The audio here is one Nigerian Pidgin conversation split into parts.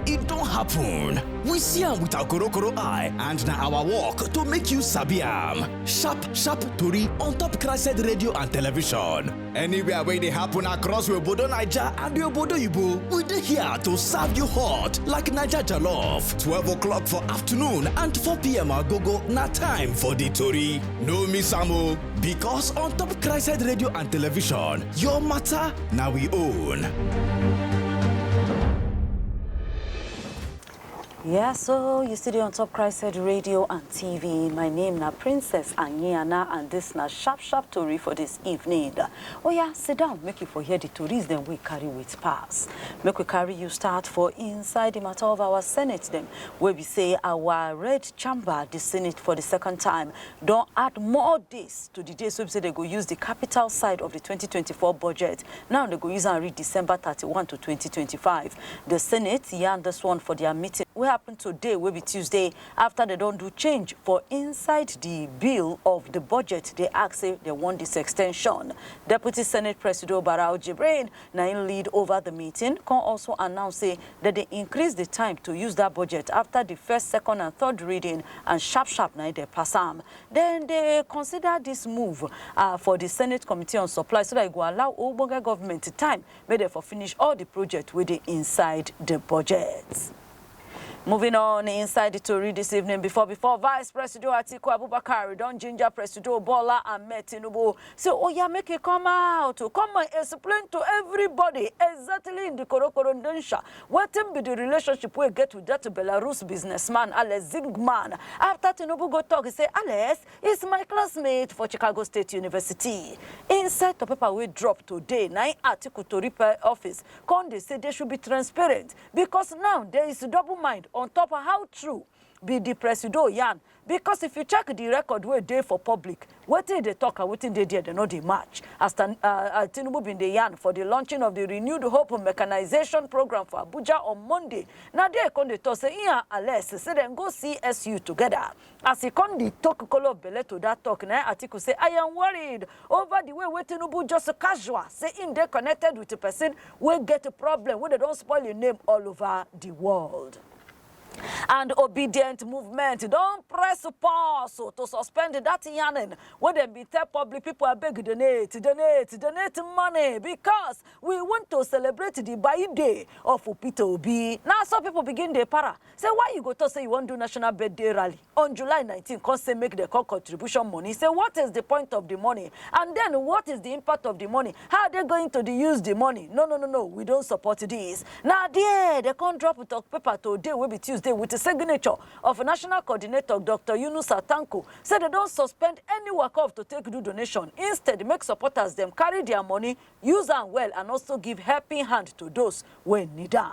e don happen. We see am with our korokoro eye and na our work to make you sabi am. Sharp sharp tori on top Crested Radio and Television. Anywhere wey dey happen across we obodo Naija and we obodo Igbo, we dey here to serve you hot like Naija jollof. 12 o'clock for afternoon and 4 p.m. agogo na time for the tori. No miss am o. Because on top Christ Radio and Television, your matter now we own. Yeah, so you still on Top Christ Radio and TV. My name na Princess Angiana and this na sharp sharp tori for this evening. Oh yeah, sit down, make you for hear the tories then we carry with pass. Make we carry you start for inside the matter of our Senate them, where we say our red chamber, the Senate for the second time, don add more days to di days wey be say dem go use di capital side of di twenty twenty four budget. Now dem go use am reach December thirty one to twenty twenty five. Di Senate yarn dis one for dia meeting wey happen today wey be Tuesday afta dem don do change for inside di bill of di budget dey ask say dem want dis extension. Deputy Senate Presido Barau Jibrin na im lead over di meeting, come also announce say dem dey increase di time to use dat budget afta di first, second and third reading and sharp sharp na im dem pass am. Dem dey consider dis move um for di Senate Committee on Supplies so dat e go allow ogbonge govment time make dem for finish all di project wey dey inside di budget. Moving on inside the tori this evening, before before Vice Presido Atiku Abubakar don ginger Presido Bola Ahmed Tinubu say oya make e come out to come and explain to everybody exactly in the korokoro ndensha wetin be the relationship wey get with that Belarus businessman Alex Zingman after Tinubu go talk say Alex is my classmate for Chicago State University. Inside the paper wey drop today na im Atiku tori office come dey say they should be transparent because now there is double mind on top how true be the presido yarn because if you check the record wey dey for public wetin e dey talk and wetin dey there dem no dey match as Tan- uh, uh, tinubu bin dey yarn for the launching of the renewed hope mechanization program for abuja on monday na there e come dey talk say im and alex say dem go csu together As e come di tok kolo belle to dat tok na im Atiku say I am worried over di way wey Tinubu just casual say im dey connected wit pesin wey get problem wey dem don spoil im name all over di world. And Obidient Movement don press pause to suspend dat yarning wey dem bin tell public pipo abeg donate, donate, donate money becos we want to celebrate di buying day of Peter Obi. Na so pipo begin dey para. Say why you go talk say you wan do national birthday rally on July nineteen come say make dem call contribution money say what is the point of the money and then what is the impact of the money how are they going to the use the money no no no no we don't support this na there they come drop talk paper today wey be Tuesday with the signature of national coordinator Dr. Yunusa Tanko say they don suspend any waka of to take do donation instead make supporters dem carry their money use am well and also give helping hand to those wey need am.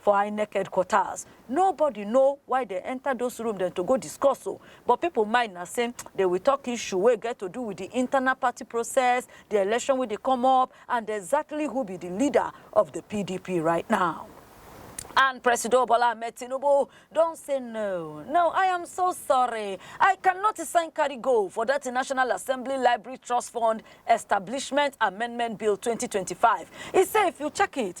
For Inec headquarters, nobody know why dem enter those room dem to go discuss o, but people mind na say dem will talk issue wey get to do with the internal party process, the election wey dey come up and exactly who be the leader of the PDP right now. And Presido Bola Ahmed Tinubu don say no, no, I am so sorry. I cannot sign carry go for that National Assembly Library Trust Fund Establishment Amendment Bill 2025. He say if you check it,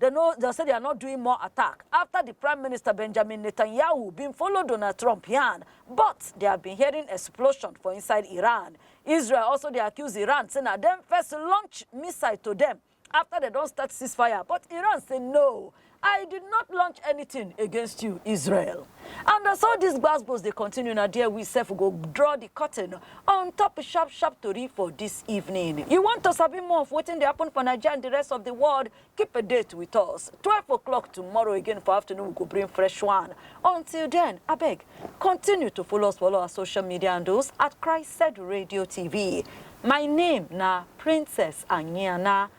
Dem no dem say they are not doing more attack after the Prime Minister Benjamin Netanyahu bin follow Donald Trump yarn, but they have been hearing explosion for inside Iran. Israel also dey accuse Iran say na dem first launch missile to dem after dem don start ceasefire, but Iran say no, I did not launch anything against you, Israel. And as all these gbasgbos dey continue, na there we sef go draw the curtain on top sharp sharp tori for this evening. You want to sabi more of wetin dey happen for Naija and the rest of the world? Keep a date with us. 12 o'clock tomorrow again for afternoon, we go bring fresh one. Until then, abeg, continue to follow us for all our social media handles at Christ Said Radio TV. My name na Princess Anyiana.